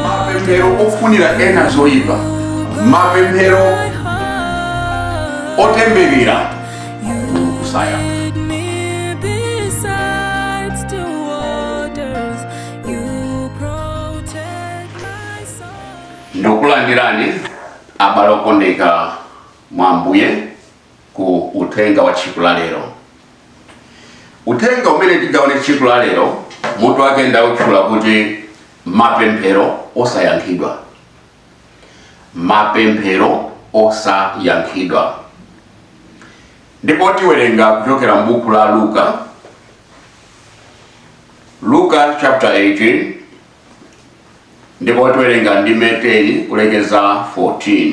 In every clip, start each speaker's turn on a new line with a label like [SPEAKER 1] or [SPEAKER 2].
[SPEAKER 1] mapemphero ofunira ena zoyipa mapemphero otemberera kusaya ndikulandirani abale okondeka mwa ambuye ku uthenga wa tsiku la lero uthenga umene tigawane tsiku la lero mutu wake ndautchula kuti mapemphero osayankhidwa mapemphero osayankhidwa ndipo tiwerenga kuchokera m'buku la luka luka chapter 18 ndipo tiwerenga ndime 10 kulekeza 14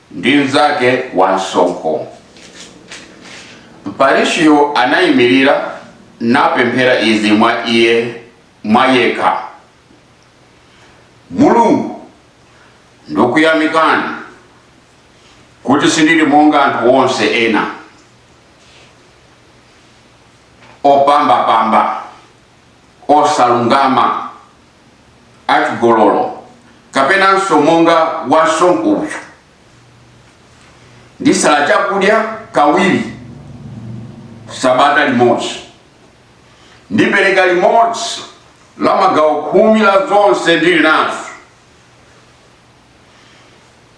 [SPEAKER 1] ndi mnzake wa msonkho. Mfarisiyo anayimirira napemphera izi mwa iye mwayekha, Mulungu, ndikuyamikani kuti sindili monga anthu onse ena opambapamba osalungama achigololo kapenanso monga wansonkho uyu ndisala chakudya kawiri sabata limodzi ndipereka limodzi la magawo khumi la zonse ndili nazo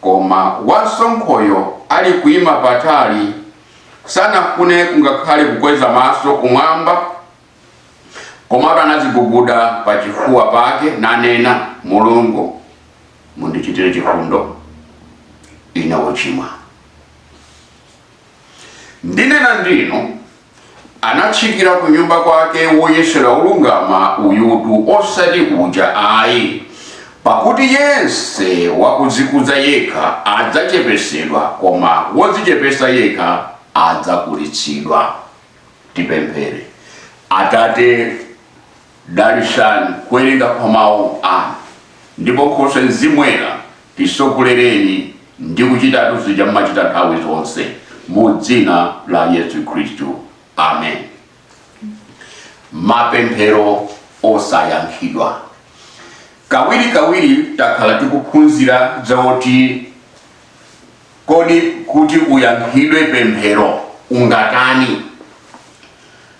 [SPEAKER 1] koma wansonkhoyo ali kuima patali sanafune kungakhale kukweza maso kumwamba Komatu anaziguguda pa chifuwa pake nanena, Mulungu mundichitire chifundo, ine wochimwa. Ndinena ndinu, anatsikira ku nyumba kwake woyesedwa olungama uyutu, osati uja ayi. Pakuti yense wakudzikuza yekha adzachepetsedwa, koma wodzichepetsa yekha adzakulitsidwa. Tipemphere. Atate, dalitsani kuwerenga kwa Mawu anu, ndipo Nkhoswe Mzimu Woyera tisogolereni ndi kuchitatu zija mmachita nthawi zonse, mu dzina la Yesu Khristu. Amen. Mapemphero osayankhidwa. Kawirikawiri takhala tikuphunzira za oti Kodi kuti uyankhidwe pemphero ungatani?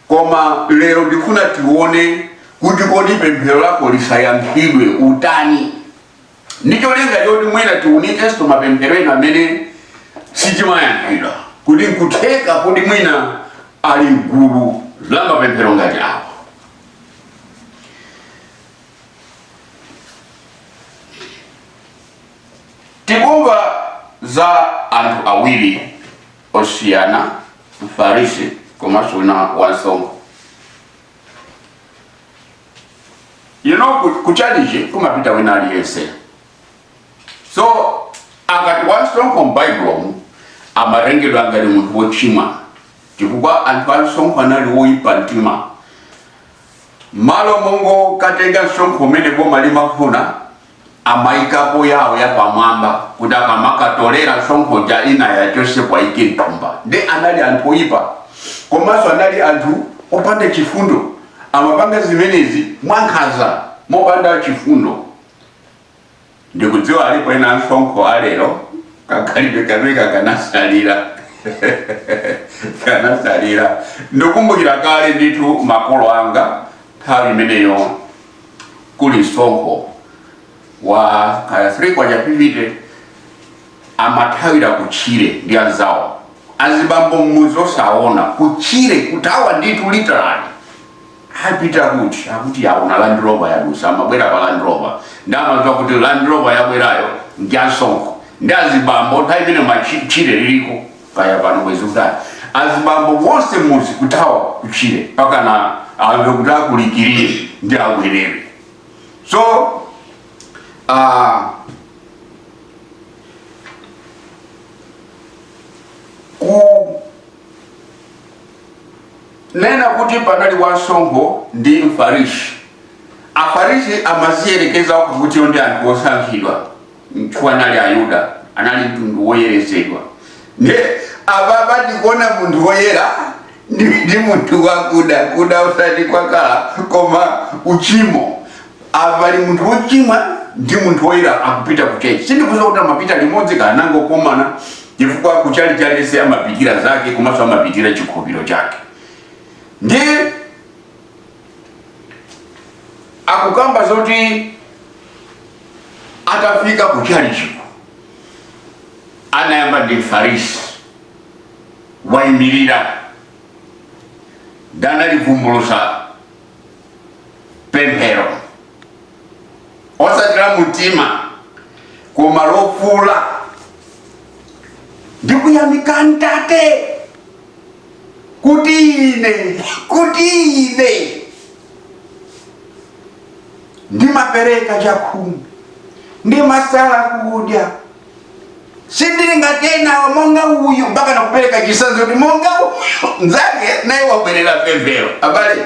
[SPEAKER 1] Koma lero ndikufuna tione kuti kodi pemphero lako lisayankhidwe utani? Ndi cholinga choti mwina tiunikenso mapemphero ena amene sitimayankhidwa kuti nkutheka kuti mwina ali m'gulu la mapemphero ngati awa. Tikumva za anthu awiri osiyana, Mfarisi komanso wina wansonkho. You know, ku- ku chalichi kumapita wina aliyense. So, akati wansonkho m'Baibulomu amatengedwa ngati munthu wochimwa chifukwa anthu ansonkho anali woyipa mtima. Malo mongokatenga msonkho umene boma limafuna amaikapo yawo yapamwamba kuti akamakatolera msonkho uja ina yachonse akaike mthumba nde anali anthu oyipa komanso anali anthu opanda chifundo amapanga zimenezi mwankhaza mopanda chifundo ndikudziwa alipo ena ansonkho alero kakhalidwe kameneka kanatsalira kanatsalira ndikumbukira kale ndithu makolo anga nthawi imeneyo kuli msonkho wa kaya 3 kwacha fifite amathawira kutchire ndi anzawo azibambo mmuzi osagona kutchire kuthawa ndithu literally apita kuti akuti aona land rover yadusa amabwera pa land rover nde amamva kuti land rover yabwerayo ndi ansonkho nde azibambo nthawi imene matchire aliko kaya pano mwezi utatu azibambo onse mmudzi kuthawa kutchire mpakana amve kuti akulikirire nde abwerere so uh, kunena kuti panali wansonkho ndi mfarisi afarisi amadziyerekeza kuti iwo ndi anthu osankhidwa nchifukwa anali ayuda anali mtundu woyeretsedwa nde apapa tikuona munthu woyera ndi munthu wakuda kuda osati kwakhala koma uchimo apali munthu wochimwa ndi munthu woyera akupita kuchalichi sindikudziwa kuti amapita limodzi kaya anangokomana chifukwa kuchalichi aliyense amapitira zake komanso amapitira chikhulupiriro chake ndi akukamba zoti atafika ku chalichiko anayamba ndi mfarisi wayimirira ndi kulivumbulutsa pemphero osatsira mutima koma lofuula ndikuyamika Atate kuti ine kuti ine ndimapereka chakhumi ndimasala kudya sindili ngati enawo monga uyu mpaka nkupereka chitsanzo kuti monga uyu nzake naye wabwelera pemphero abale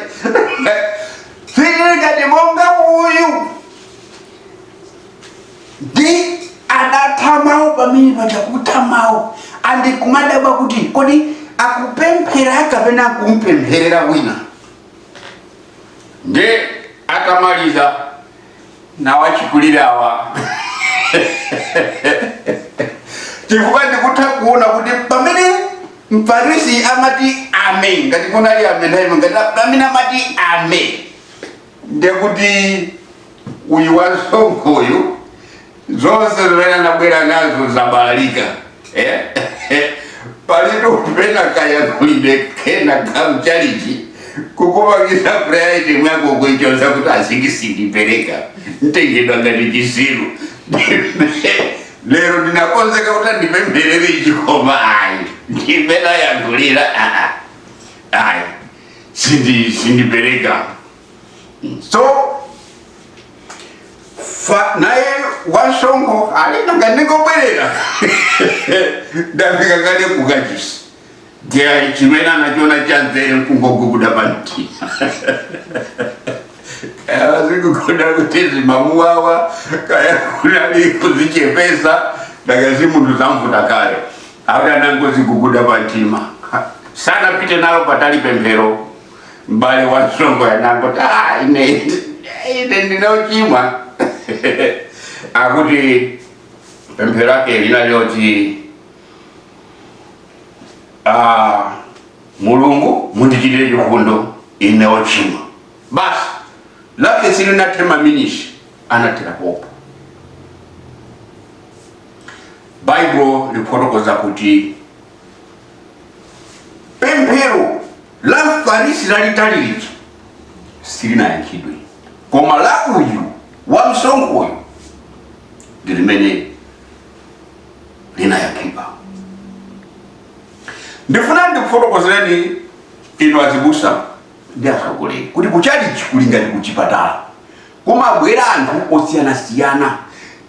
[SPEAKER 1] sindili ngati monga uyu ndi adatha mawu pamene paja kutha mawuwa ndi kumadabwa kuti kodi akupemphera kapena akumpempherera wina ndi atamaliza nawachikulirawa chifukwa ndikutha kuona kuti pamene mfarisi amati amen ngati kunali amen nthawi ngati pamene amati amen ndekuti uyu wamsonkhoyu zonse zimene anabwera nazo zabalalika eh? palitu pena kayankhulidwe kena kamchalichi kukupangitsa prayer item yako kuichotsa kuti changachi sindipereka ntengedwa ngati chisiru lero ndinakonzeka kuti andipempherere ichi koma ayi ndimene ayankhulira ayi sindi sindipereka so naye wamsonkho ali nanga ndingobwerera ndafika kale ku kachisi ndiye chimene anachona cha nzeru nkungoguguda pamtima akudziguguda kuti zimamuwawa kaya kunali kuzichepesa takadzi munthu zamvuta kale Akuti anangodziguguda pa mtima sanapite nalo patali pemphero. M'bale wa msonkhoyu anangoti ah, ine ine ndine ochimwa akuti pemphero lake linali loti ah, mulungu mundichitire chifundo ine ochimwa basi lake silinathe maminisi anathera pompo baibulo likufotokoza kuti pemphero la mfarisi lalitali lija silinayankhidwe koma la uyu wamsonkhoyu ndi limene linayankhidwa ndifuna ndikufotokozereni inu azibusa ndi atsogoleri kuti kuchalichi kuli ngati kuchipatala kumabwera anthu osiyanasiyana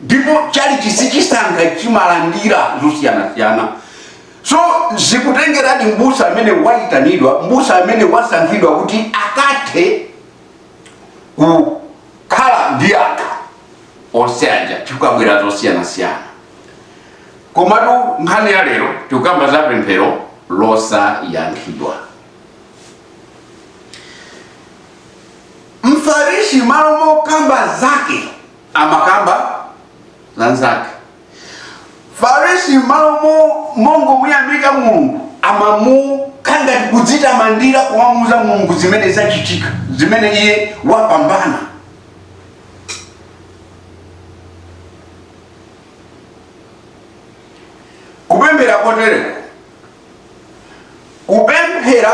[SPEAKER 1] ndipo chalichi sichisankha chimalandira zosiyanasiyana so zikutengeradi mbusa amene wayitanidwa mbusa amene wasankhidwa kuti akathe kukhala ndi anthu onse aja chifukwa kumabwera zosiyanasiyana komatu nkhani ya lero tikukamba za pemphero losayankhidwa mfarisi malo mokamba zake amakamba za nzake mfarisi malo mo- mongomuyamika mulungu amamuka n'kudzitamandira kumamuuza mulungu zimene zachitika zimene iye wapambana kupemphera kotereko kupemphera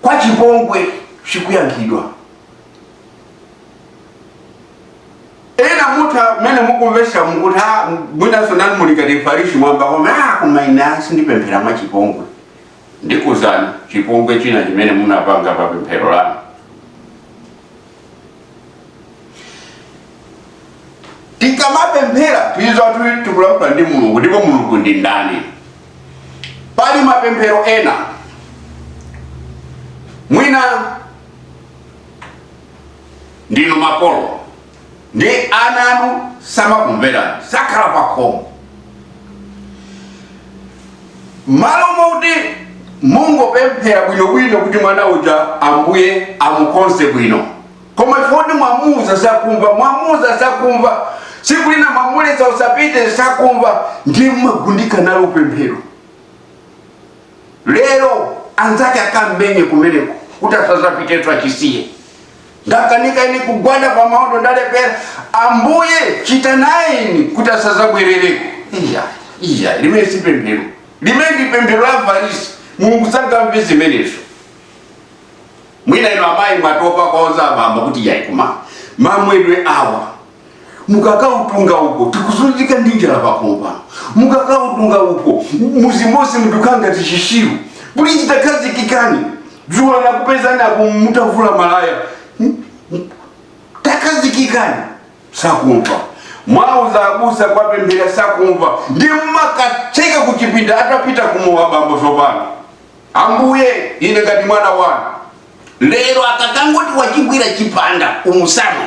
[SPEAKER 1] kwa chipongwe sikuyankhidwa ena mutha mmene mukumvetsera mukuti "Ah, mwinanso nanu muli ngati mfarisi mwayamba kuona "Ah, koma ine sindipemphera mwa chipongwe ndikuuzani chipongwe china chimene munapanga pa pemphero lanu tikamapemphera tidziwe zoti tikulankhula ndi mulungu ndipo mulungu ndi ndani pali mapemphero ena mwina ndinu makolo Nde ana anu samakumverani, sakhala pakhomo. Malo moti mungopemphera bwinobwino kuti mwana uja Ambuye amukonze bwino, koma chifukwa kuti mwamuuza sakumva, mwamuuza sakumva, tsiku lina mwamuletsa usapite sakumva, ndiye mumagundika nalo pemphero. lero anzake akammenye kumeneko kuti asazapitenso achisiye ndakanika ine kugwada pa maondo ndalepera ambuye chita nayeni kuti asazabwerereko iyayi limenelo si pemphero limenelo ndi pemphero la afarisi mulungu sangamve zimenezo mwina inu amayi mwatopa kuwauza abambo kuti yayi koma mamwedwe awa mukakautunga uko tikuzunzika ndi njala pakhomo pano mukakautunga uko mudzi monse mukukhala ngati chitsiru pulizi takhazikikani dzulo anakupezani apo mutavula malaya Hmm? Hmm? takhazikikani sakumva mwauza abusa kwapemphera sakumva ndiye mmakatseka kuchipinda atapita kumowa bambo tsopano ambuye ine ngati mwana wanu lero akakangoti wachigwira chipanda umutsamwe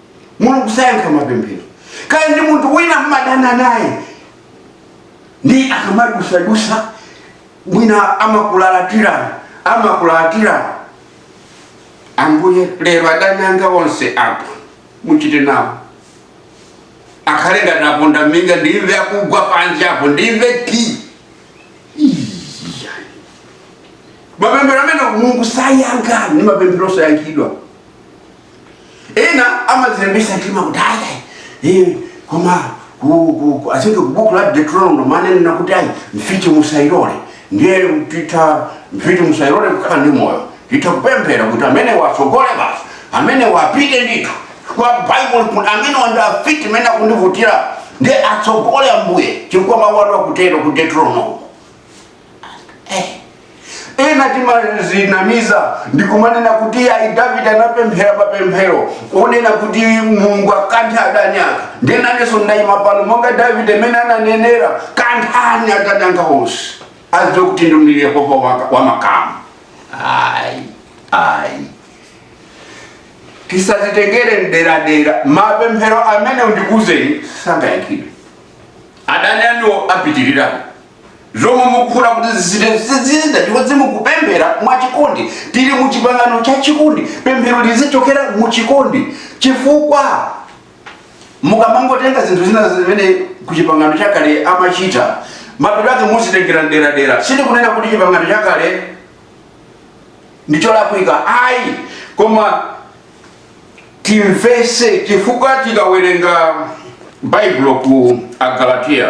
[SPEAKER 1] mulungu sayankha mapemphero kaya ndi munthu wina mmadana naye ndiye akamadutsadutsa mwina amakulalatirani amakulalatirani ambuye lero adani anga onse apo muchite nawo akhale ngati aponda minga ndimve akugwa panja apo ndimve ti mapemphero amene mulungu sayankha ndi mapemphero osayankhidwa ena amazilimbitsa mtima kuti ayi eh, koma ku- ku- ku- asinge kubuku la deuteronomo amanena kuti ayi mfiti musayilole ndiye mfiti musayilole kukhala ndi moyo titha kupemphera kuti amenewa atsogole basi amenewa apite ndithu kwa bible kuti amenewa ndi afiti amene akundivutira ndiye atsogole ambuye chifukwa mawu anu akutero ku deuteronomo ena timazinamiza ndi kumanena kuti ayi davide anapemphera mapemphero onena kuti mulungu akanthe adani ake nde nanenso ndayima pano monga davide mmene ananenera kanthani adani anga onse azidziwe kuti ndinu yehova wa- wa makamu ayi ayi tisazitengere mderadera mapemphero amenewo ndikuuzeni sangayankhidwe adani anuwo apitirirapo zomwe mukufuna kuti zichite sizitha chifukwa simukupemphera mwachikondi tili mu chipangano cha chikondi pemphero lizichokera mu chikondi chifukwa mukamangotenga zinthu zina zimene ku chipangano chakale amachita mapeto ake muzitengera mderadera sindikunena kuti chipangano chakale ndi cholakwika ayi koma timvese chifukwa tikawerenga baibulo ku agalatiya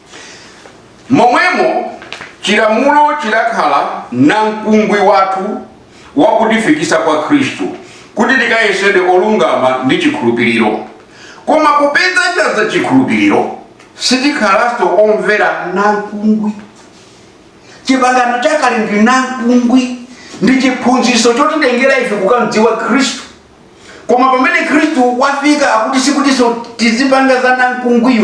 [SPEAKER 1] Momwemo chilamulo chidakhala namkungwi wathu wakutifikisa kwa Khristu, kuti tikayesedwe olungama ndi chikhulupiriro. Koma popeza chadza chikhulupiriro, sitikhalanso omvera namkungwi. Chipangano chakale ndi namkungwi, ndi chiphunzitso chotitengera ife kukamdziwa Khristu. Koma pamene Khristu wafika akuti sikutinso tizipanga za namkungwiyo.